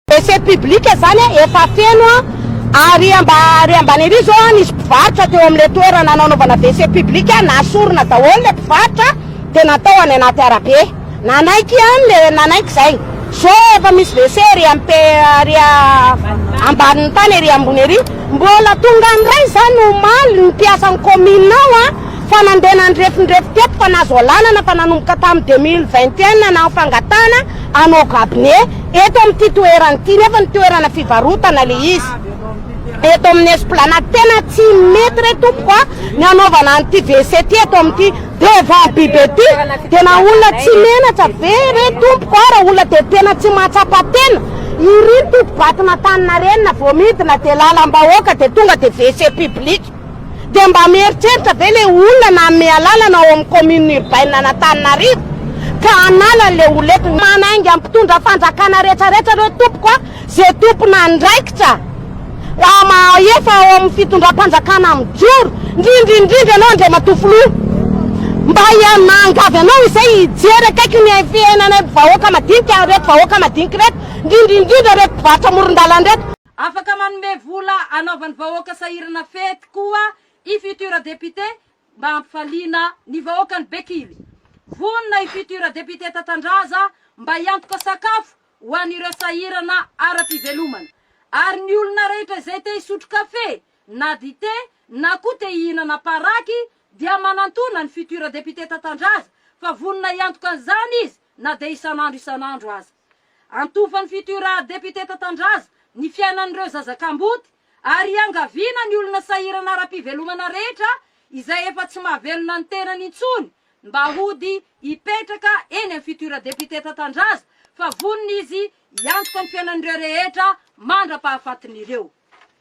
WC public zany a efa feno a, ary amba ary ambany ery zao a nisy mpivarotra teo amle toerana nanaovana WC public a nasorina daholo le mpivarotra de natao any anaty arabe nanaiky an le nanaiky zay zo efa misy WC ery amp ary ambaniny tany ery ambony ery mbola tonga ndray zany omaly ny mpiasan'ny commune ao a fa nandeha nandrefindrefy teto fa nazo alanana fa nanomboka tam deux mille vingt et un nanao fangatahana anao gabne Eto amin'ity toerana ity nefa ny toerana fivarotana le izy eto amin'ny esplanade tena tsy mety re tompoko a ny hanaovana an'ity WC ty eto amin'ity devant bibe ty tena olona tsy menatra ve re tompoko a raha olona dia tena tsy mahatsapa tena iry ny totobato nataninareny na vao midina dia lalam-bahoaka dia tonga dia WC public Dia mba mieritreritra ve ilay olona nanome alalana ao amin'ny commune urbaine an'Antananarivo ka hanala an'ilay olety. Manainga mpitondra fanjakana rehetra rehetra ireo tompoko a! Ze tompon'andraikitra raha mahefa ao amin'ny fitondram-panjakana mijoro, ndrindra indrindra ianao Andriamatoa Filoha, mba hianangavy anao izay hijery akaiky ny fiainanay vahoaka madinika, ireto vahoaka madinika ireto, ndrindra indrindra ireto mpivarotra amoron-dalana ireto. Afaka manome vola anaovan'ny vahoaka sahirana fety koa i futur député mba hampifaliana ny vahoakan'i Bekily. Vonona i futur député Tatandraza mba hiantoka sakafo ho an'ireo sahirana ara-pivelomana. Ary ny olona rehetra izay te hisotro kafe na dite na koa te hihinana paraky dia manantona ny futur député Tatandraza fa vonona hiantoka an'izany izy na dia isan'andro isan'andro aza. Antofan' ny fitoiraa depiote Tatandraza ny fiainan' ireo zaza kamboty ary iangaviana ny olona sahirana ara-pivelomana rehetra izay efa tsy mahavelona ny tenany intsony mba hody hipetraka eny amin' ny fitoiraa depiote Tatandraza fa vonona izy hiantoka ny fiainan' ireo rehetra mandra-pahafatin' ireo